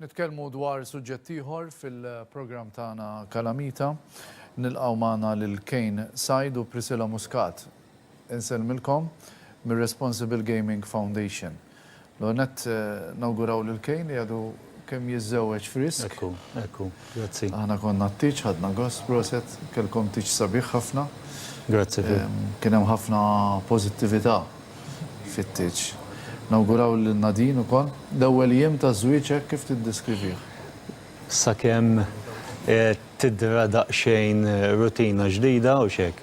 Nitkellmu dwar suġġett ieħor fil-programm tagħna Kalamita. Nilqgħu magħna lil Kejn Sajd u Priscilla Muscat. Insellmilkom mir-Responsible Gaming Foundation. L-ewwel nett nawguraw lil Kane li għadu kemm jiżżewweġ frisk. Ekku, ekku. Grazzi. Aħna konna t-tieġ, ħadna gost. Proset, kellkom tieġ sabiħ ħafna. Grazzi Phil. Kien hemm ħafna pożittività fit-tieġ. Nawguraw lil Nadine ukoll. L-ewwel jiem ta' żwieġ hekk kif tiddeskrivih? Sakemm tidhra daqsxejn rutina ġdida, hux hekk?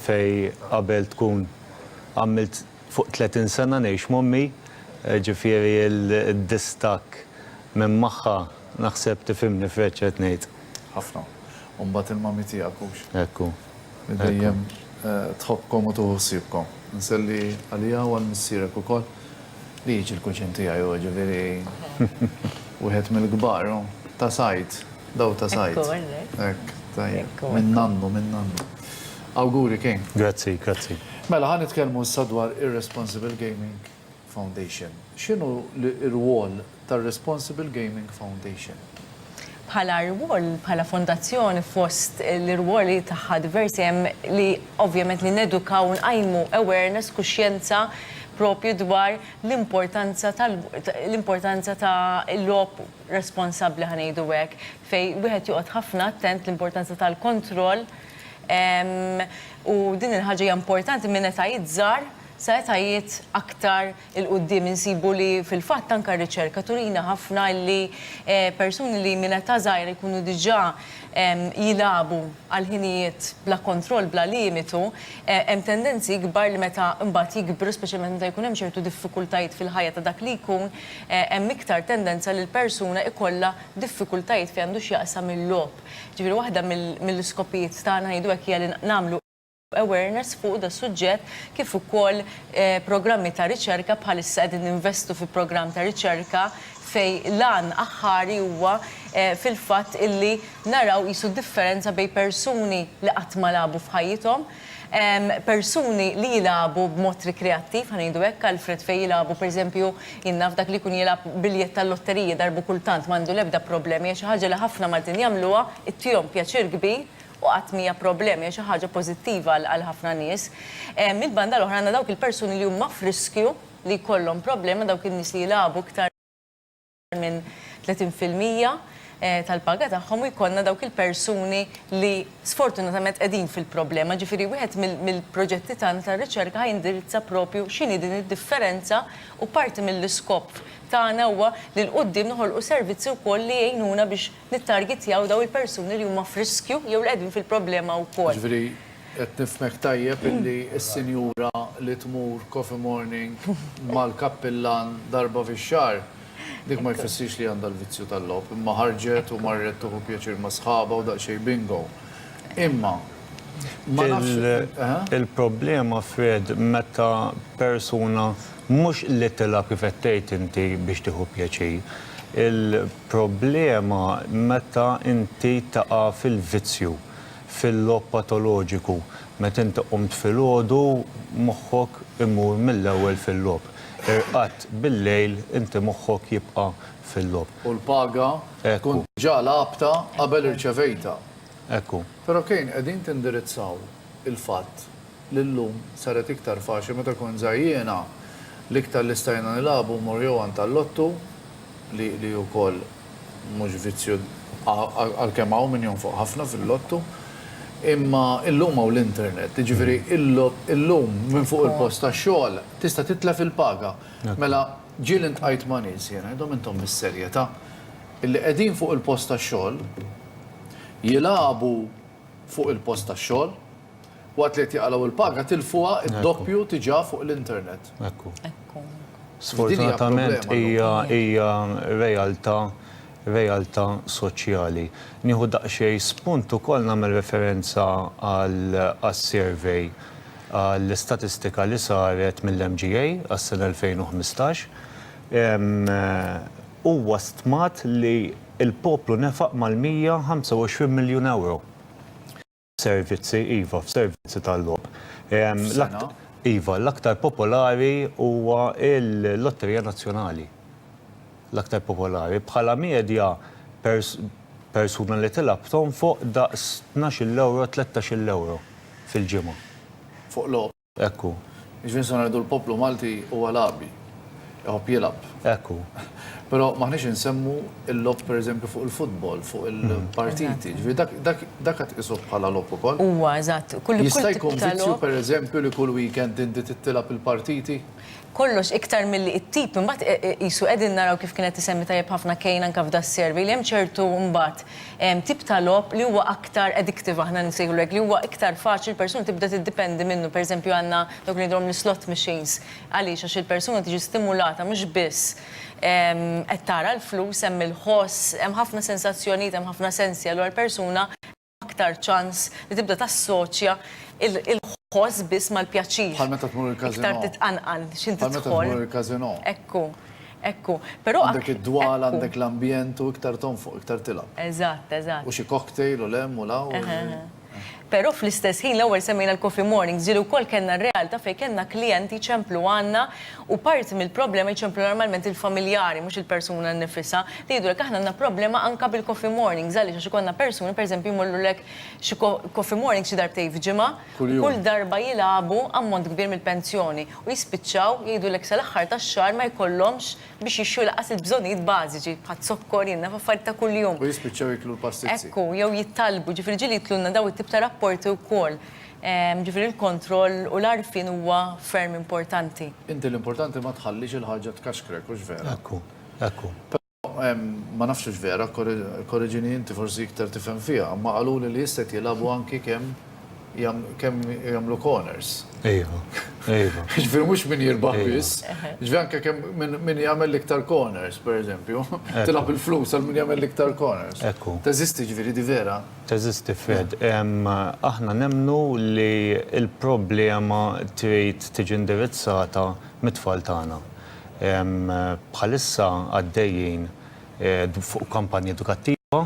Fejn qabel tkun għamilt. Fuq 30 sena ngħix m'ommi, ġifieri d-distakk minn magħha naħseb tifhimni f'hekk x'qed ngħid. Ħafna. U mbagħad il-mommy tiegħek hux? Hekk hu. Li dejjem tħobbkom u tieħu ħsiebkom. Nselli għaliha u għal missierek ukoll, li jiġi l-kuċin tiegħi hu, ġifieri wieħed mill-kbar hu. Ta' sajd, dawl ta' sajd. Hekk hu, hekk. Hekk, tajjeb. Minn nannu, minn nannu. Awguri King. Grazzi, grazzi. Mela ħa nitkellmu issa dwar ir-Responsible Gaming Foundation. X'inhu l-irwol tar-Responsible Gaming Foundation? Bħala rwol, bħala fondazzjoni fost l-irwoli tagħha diversi hemm li ovvjament li nedukaw u nqajmu awareness, kuxjenza proprju dwar l-importanza tal l-importanza ta' logħob responsabbli ħa ngħidu hekk, fejn wieħed joqgħod ħafna attent l-importanza tal-kontroll, U din il-ħaġa hija importanti minn etajiet żgħar sa etajiet aktar 'il quddiem. Insibu li fil-fatt anke r-riċerka turina ħafna li persuni li minn età żgħira jkunu diġà jilagħbu għal ħinijiet bla kontroll, bla limitu, hemm tendenzi ikbar li meta mbagħad jikbru, speċjalment meta jkun hemm ċertu diffikultajiet fil-ħajja ta' dak li jkun, hemm iktar tendenza li l-persuna jkollha diffikultajiet f'għandu x'jaqsam il-logħob. Jiġifieri waħda mill-iskopijiet tagħna, ngħidu hekk, hija li nagħmlu awareness fuq das-suġġett kif ukoll programmi ta' riċerka, bħalissa qegħdin ninvestu fi programm ta' riċerka fejn l-għan aħħari huwa fil-fatt illi naraw qisu d-differenza bejn persuni li qatt ma lagħbu f'ħajjithom, persuni li jilagħbu b'mod rikreattiv, ħa ngħidu hekk, Alfred fejn jilagħbu pereżempju, jien naf dak li jkun jilgħab biljett tal-lotteriji darba u kultant m'għandu l-ebda problemi, hija xi ħaġa li ħafna Maltin jagħmluha, ittihom pjaċir kbir u qatt m'hija problemi, hija xi ħaġa pożittiva għal ħafna nies. Mill-banda l-oħra għandna dawk il-persuni li huma f'riskju li jkollhom problema, dawk in-nies li jilagħbu iktar. minn 30 fil-mija tal-paga tagħhom u jkollna dawk il-persuni li sfortunatament qegħdin fil-problema. Ġifieri wieħed mill-proġetti tagħna tar-riċerka ħa jindirizza propju x'inhi din id-differenza u parti mill-iskop tagħna huwa li 'l quddiem noħolqu servizzi wkoll li jgħinuna biex nittargitjaw dawn il-persuni li huma f'riskju jew li qegħdin fil-problema wkoll. Jiġifieri Qed nifhmek tajjeb illi s-sinjura li tmur coffee morning mal-kappillan darba fix-xahar, dik ma jfissirx li għandha l-vizzju tal-logħob, imma ħarġet u marret tieħu pjaċir ma' sħabha u daqsxejn bingo. Imma, ma nafx, eħe? Il-problema, Fred, meta persuna mhux li tilgħab kif qed tgħid inti biex tieħu pjaċir. Il-problema meta inti taqa' fil-vizzju. Fil-logħob patoloġiku, meta inti qumt filgħodu, moħħok imur mill-ewwel fil-logħob. Irqadt bil-lejl, inti moħħok jibqa' fil-logħob. U l-paga tkun diġà lagħabtha qabel irċevejtha. Ekku. Però Kane, qegħdin tindirizzaw il-fatt li llum saret iktar faċli meta kont żgħir jiena l-iktar li stajna nilagħbu hu Morjew għand tal-Lottu li li hu wkoll mhux vizzju għalkemm hawn min jonfoq ħafna fil-Lottu imma llum hawn l-internet jiġifieri llum minn fuq il-post tax-xogħol tista' titlef il-paga mela ġieli ntqajt ma' nies jiena ngħidhom intom bis-serjetà li qegħdin fuq il-post tax-xogħol jilagħbu fuq il-post tax-xogħol Waqt li qed jaqalgħu l-paga tilfuha d-doppju diġà fuq l-internet. Ekku. Ekku. Sfortunatament hija hija realtà realtà soċjali. Nieħu daqsxejn spunt ukoll nagħmel referenza għal għas-survey għall-istatistika li saret mill-MGA għas-sena 2015. Huwa stmat li l-poplu nefaq mal-125 miljun ewro. Servizzi, iva, f'servizzi tal-logħob. F'sena? Iva, l-aktar popolari huwa l-Lotterija Nazzjonali. L-aktar popolari. Bħala medja, persuna li tilgħab tonfoq daqs tnax-il ewro, tlettax-il ewro fil-ġimgħa. Fuq logħob? Hekk hu. Jiġifieri nistgħu ngħidu l-poplu Malti huwa lagħbi. Iħobb jilgħab. Hekk hu. Però m'aħniex insemmu l-logħob pereżempju fuq il-futbol, fuq il-partiti. Jiġifieri dak dak dak għad tqisuh bħala logħob ukoll? Huwa, eżatt. Kull kull tip ta' logħob. Jista' jkun vizzju pereżempju li kull weekend inti trid tilgħab il-partiti? kollox iktar milli it-tip imbagħad qisu qegħdin naraw kif kienet isemmi tajjeb ħafna Kane anke f'da s-survey li hemm ċertu mbagħad tip ta' logħob li huwa aktar addictive aħna nsejħulu hekk li huwa iktar faċli l-persuna tibda tiddipendi minnu pereżempju għandna dawk li ngħidulhom l-slot machines għaliex għax il-persuna tiġi stimulata mhux biss qed tara l-flus hemm il-ħoss hemm ħafna sensazzjonijiet hemm ħafna sensi allura l-persuna aktar ċans li tibda tassoċja l-ħoss biss mal-pjaċir. Bħal meta tmur il-każinò. Iktar titqanqal x'int tidħol. Bħal meta tmur il-każinò. Ekku, ekku. Però għandek id-dwal, għandek l-ambjent u iktar tonfoq, iktar tilgħab. Eżatt, eżatt. U xi cocktail u l-hemm u l-hawn. Però fl-istess ħin l-ewwel semmejna l-coffee mornings, ġieli wkoll kellna r-realtà fejn kellna klijenti jċemplu għandna U parti mill-problema jċemplu normalment il-familjari, mhux il-persuna nnifisha, li jgħidulek aħna għandna problema anke bil-coffee mornings, għaliex għax ikollna persuni pereżempju jmorrulek xi coffee mornings xi darbtejn f'ġimgħa u kull darba jilagħbu ammont kbir mill-pensjoni u jispiċċaw jgħidulek sal-aħħar tax-xahar ma jkollhomx biex jixtru lanqas il-bżonnijiet bażiċi bħaz-zokkor, jien naf affarijiet ta' kuljum. U jispiċċaw jieklu l-pastizzi. Ekku, jew jittallbu, jiġifieri ġieli jitlulna dawn it-tip ta' rapporti wkoll. Jiġifieri l-kontroll u l-għarfien huwa ferm importanti. Inti l-importanti ma tħallix il-ħaġa tkaxkrek, hux vera? Hekk hu, hekk hu. Però, ma nafx hux vera, korreġini inti forsi iktar tifhem fiha, imma qaluli li issa qed jilagħbu anki kemm kemm jagħmlu corners. Iva, iva. Jiġifieri mhux min jirbaħ biss, jiġifieri anke kemm min min jagħmel l-iktar corners, pereżempju, tilgħab il-flus għal min jagħmel l-iktar corners. Hekk hu. Teżisti ġifieri, di vera? Għeżież tifel, aħna nemmnu li l-problema trid tiġi indirizzata mit-tfal tagħna. Bħalissa għaddejjin fuq kampanja edukattiva,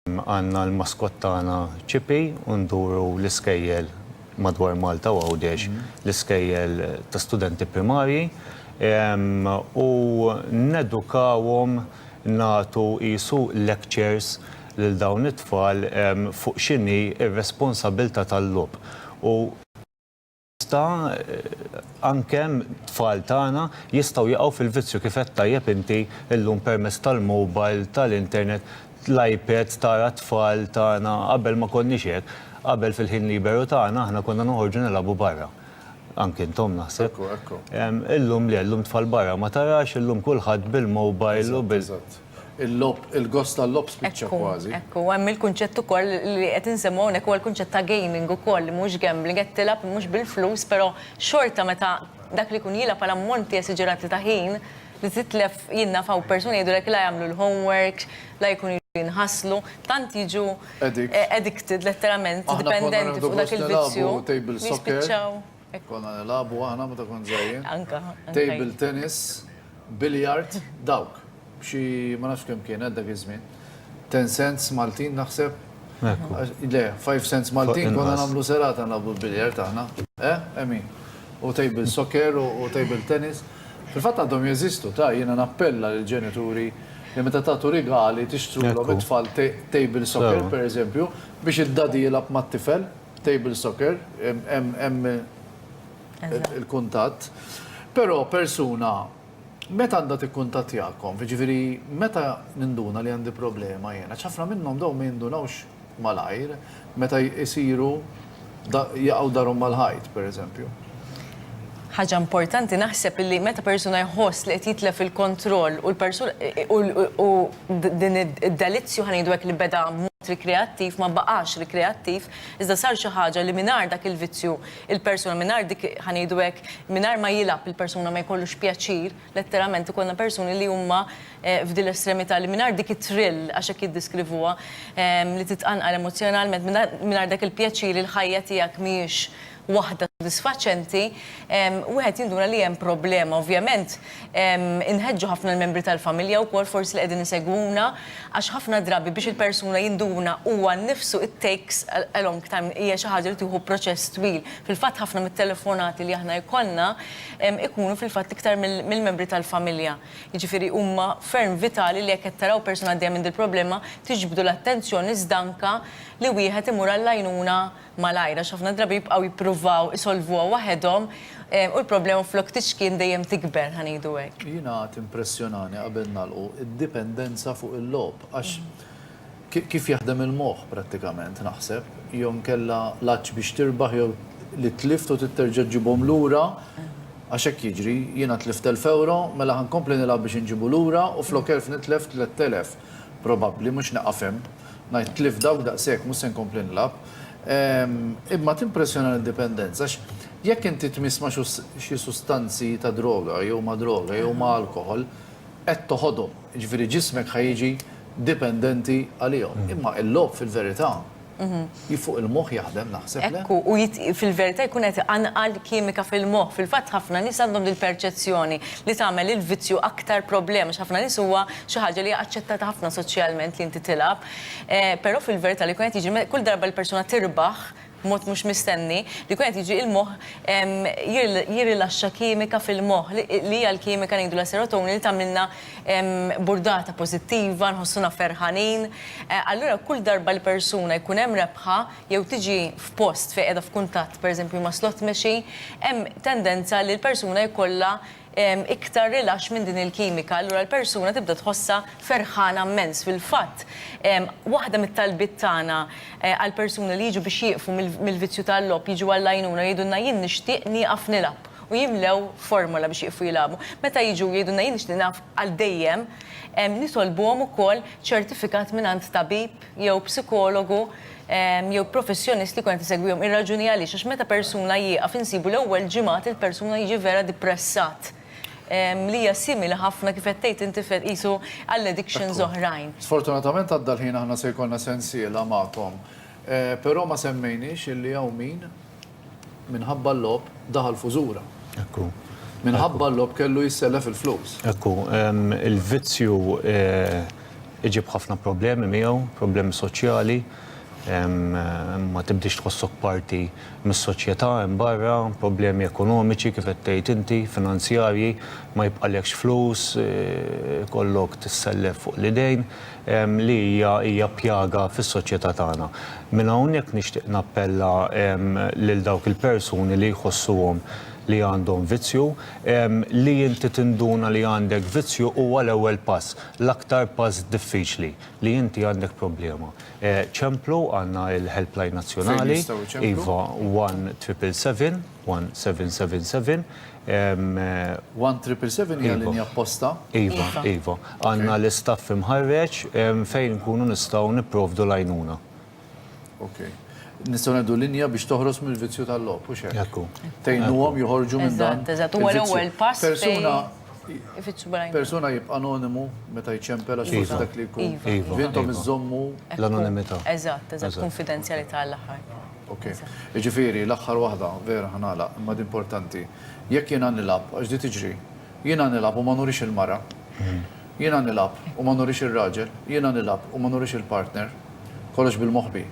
għandna l-maskott tagħna Chippy u nduru l-iskejjel madwar Malta u Għawdex, l-iskejjel ta' studenti primarji u nedukawhom nagħtu qisu lectures. lil dawn it-tfal fuq x'inhi r-responsabbiltà tal-logħob u meta anke t-tfal tagħna jistgħu jaqgħu fil-vizzju kif għedt tajjeb inti llum permezz tal-mobile, tal-internet, l-iPads tara t-tfal tagħna qabel ma konniex hekk, qabel fil-ħin liberu tagħna aħna konna noħorġu nilagħbu barra, anke intom naħseb, illum le, illum t-tfal barra ma tarax, illum kulħadd bil-mobile u bil. Il-logħob, il-gost tal-logħob spiċċa kważi. Hekk hu, hemm il-kunċett ukoll li qed insemmu hawnhekk huwa l-kunċett ta' gaming ukoll li mhux gambling, qed tilgħab mhux bil-flus però xorta meta dak li jkun jilgħab għal ammonti esiġerati ta' ħin li titlef jien naf hawn persuni jgħidulek la jagħmlu l-homeworks, la jkunu jridu jinħaslu, tant jiġu addicted letteralment, dipendenti fuq dak il-vizzju li jispiċċaw. Hekk konna nilagħbu aħna meta kont żgħir. Anka. Table tennis, billiard, dawk. Xi ma nafx kemm kien għal dak iż-żmien. Ten cents Maltin naħseb. Le, five cents Maltin konna nagħmlu serata nagħmlu billiard aħna. Eh, Emin? U table soccer u table tennis. Fil-fatt għandhom jeżistu, ta' jiena nappella lill-ġenituri li meta tagħtu rigali tixtrulhom it-tfal table soccer, pereżempju, biex id-dadi jilgħab mat-tifel. Table soccer, hemm il-kuntatt. Però persuna meta għandha tikkuntattjakom, jiġifieri meta ninduna li għandi problema jiena, għax ħafna minnhom dawn ma jindunawx malajr meta jsiru jaqgħu darhom mal-ħajt, pereżempju. Ħaġa importanti naħseb li meta persuna jħoss li qed jitlef il-kontroll u l-persuna u din id-delizzju ħa ngħidu hekk li beda rikreattiv ma baqax rikreattiv iżda sar xi ħaġa li mingħajr dak il-vizzju il-persuna mingħajr dik ħa ngħidu hekk mingħajr ma jilgħab il-persuna ma jkollux pjaċir letteralment ikollna persuni li huma f'din l-estremità li mingħajr dik it-thrill għax hekk jiddeskrivuha li titqanqal emozzjonalment mingħajr dak il-pjaċir il-ħajja tiegħek mhijiex waħda sodisfaċenti, wieħed jinduna li hemm problema. Ovvjament, inħeġġu ħafna l-membri tal-familja wkoll forsi li qegħdin isegwuna għax ħafna drabi biex il-persuna jinduna huwa nnifsu it takes a long time, hija xi ħaġa li tieħu proċess twil. Fil-fatt ħafna mit-telefonati li aħna jkollna jkunu fil-fatt iktar mill-membri tal-familja. Jiġifieri huma ferm vitali li jekk qed taraw persuna għaddejja minn dil-problema tiġbdu l-attenzjoni iżda anke li wieħed imur għall-għajnuna malajr għax ħafna drabi jibqgħu jippruvaw isolvuha waħedhom u l-problema flok tixkien dejjem tikber, ħa ngħidu hekk. Jiena timpressjonani qabel nagħlqu d-dipendenza fuq il-logħob għax kif jaħdem il-moħħ prattikament naħseb jew inkella l-għatx biex tirbaħ jew li tlift u trid terġa' ġġibhom lura għax hekk jiġri, jiena tlift elf ewro mela ħa nkompli nilgħab biex inġibu lura u flok elf nitlef tlett elef probabbli mhux neqaf hemm. Ngħid tlift dawk daqshekk, mhux se nkompli nilgħab. Imma timpressjonani d-dipendenza għax jekk inti tmiss ma' xi sustanzi ta' droga jew ma' droga jew ma' alkoħol, qed toħodhom. Jiġifieri ġismek ħa jiġi dipendenti għalihom. Imma l-logħob fil-verità Hi fuq il-moħħ jaħdem naħseb, le? Ekku, u fil-verità jkun qed iqanqal kimika fil-moħħ. Fil-fatt ħafna nies għandhom dil-perċezzjoni li tagħmel il-vizzju aktar problema għax ħafna nies huwa xi ħaġa li hija aċċettata ħafna soċjalment li inti tilgħab. Però fil-verità li jkun qed jiġri kull darba li persuna tirbaħ b'mod mhux mistenni, li jkun qed jiġri il-moħħ jirrilaxxa kimika fil-moħħ li hija l-kimika ngħidulha serotonin li tagħmlilna burdata pożittiva, nħossuna ferħanin. Allura kull darba li persuna jkun hemm rebħa jew tiġi f'post fejn qiegħda f'kuntatt pereżempju ma' slot machine, hemm tendenza li l-persuna jkollha iktar rilaxx minn din il-kimika. Allura l-persuna tibda tħossha ferħana mmens. Fil-fatt, waħda mit-talbiet tagħna għall-persuni li jiġu biex jieqfu mill-vizzju tal-logħob jiġu għall-għajnuna jgħidulna jien nixtieq nieqaf nilgħab. u jimlew formola biex jieqfu jilagħbu. Meta jiġu u jgħidulna jien nixtieq nilgħab għal dejjem, nitolbuhom ukoll ċertifikat mingħand tabib jew psikologu jew professjonist li jkun qed isegwihom. Ir-raġuni għaliex għax meta persuna jieqaf insibu l-ewwel ġimgħat il-persuna jiġi vera dipressat li hija simili ħafna kif qed tgħid inti Fred qisu għal addictions oħrajn. Sfortunatament għadda l-ħin aħna se jkollna sensiela magħkom. Però ma semmejniex illi hawn min Minħabba l-logħob daħal f'użura. Hekk hu. Minħabba l-logħob kellu jissellef il-flus. Hekk hu. Il-vizzju iġib ħafna problemi miegħu, problemi soċjali, ma tibdiex tħossok parti mis-soċjetà hemm barra, problemi ekonomiċi kif qed tgħid inti, finanzjarji, ma jibqalekx flus, ikollok tissellef fuq l-idejn. li hija hija pjaga fis-soċjetà tagħna. Minn hawnhekk nixtieq nappella lil dawk il-persuni li jħossuhom li għandhom vizzju, li inti tinduna li għandek vizzju huwa l-ewwel pass, l-aktar pass diffiċli, li inti għandek problema. Ċemplu, għandna l-helpline nazzjonali, iva, one triple seven. 1777. One triple seven hija linja apposta? Iva, iva. Għandna l-istaff imħarreġ fejn inkunu nistgħu nipprovdu l-għajnuna. Okej. Nistgħu ngħidu linja biex toħros mill-vizzju tal-logħob, hux hekk? Hekk hu. Tgħinuhom joħorġu minn dan. Eżatt, eżatt. Huwa l-ewwel pass fejn Persuna, ifittxu bl-għajnuna. persuna jibqa' anonimu meta jċempel għax forsi dak li jkun. Iva, iva. Intom iżżommu L-anonimità. Eżatt, eżatt. Kunfidenzjalità għall-aħħar. Ok. Jiġifieri, l-aħħar waħda, vera ħa nagħlaq, imma di importanti. Jekk jiena nilgħab, għax di tiġri, jiena nilgħab u ma nurix il-mara, jiena nilgħab u ma nurix ir-raġel, jiena nilgħab u ma nurix il-partner, kollox bil-moħbi.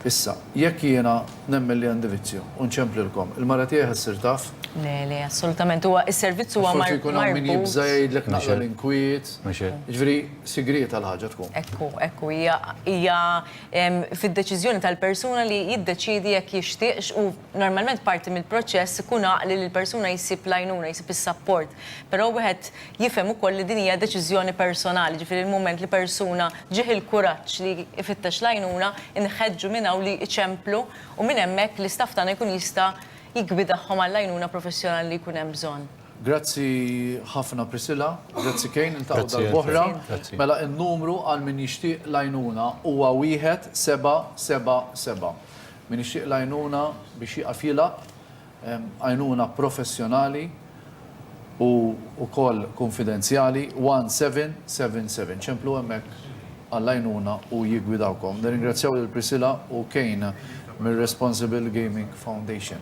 Issa, jekk jiena nemmen li għandi vizzju u nċemplilkom, il-mara tiegħi ħa ssir taf? Le, le, assolutament. Huwa s-servizz huwa marbut. Forsi jkun hawn min jibża' jgħidlek naqra l-inkwiet. Jiġifieri, sigrieta l-ħaġa tkun. Ekku, ekku, hija fid-deċiżjoni tal-persuna li jiddeċiedi jekk jixtieqx u normalment parti mill-proċess ikun għaqli li l-persuna jsib l-għajnuna, jsib is-sapport. Però wieħed jifhem ukoll li din hija deċiżjoni personali, jiġifieri l-mument li persuna ġieh il-kuraġġ li jfittex l-għajnuna, inħeġġu minn hawn li jċemplu u minn hemmhekk l-istaff tagħna jkun jista' jiggwidahom għall-għajnuna professjonali li jkun hemm bżonn. Grazzi ħafna Priscilla. Grazzi Kane, niltaqgħu darb'oħra. Mela n-numru għal min jixtieq l-għajnuna huwa wieħed seba' seba' seba'. Min jixtieq l-għajnuna biex jieqaf jilgħab, għajnuna professjonali u wkoll kunfidenzjali, one seven seven seven. Ċemplu hemmhekk għall-għajnuna u jiggwidawkom. Nirringrazzjaw lil Priscilla u Kane mir-Responsible Gaming Foundation.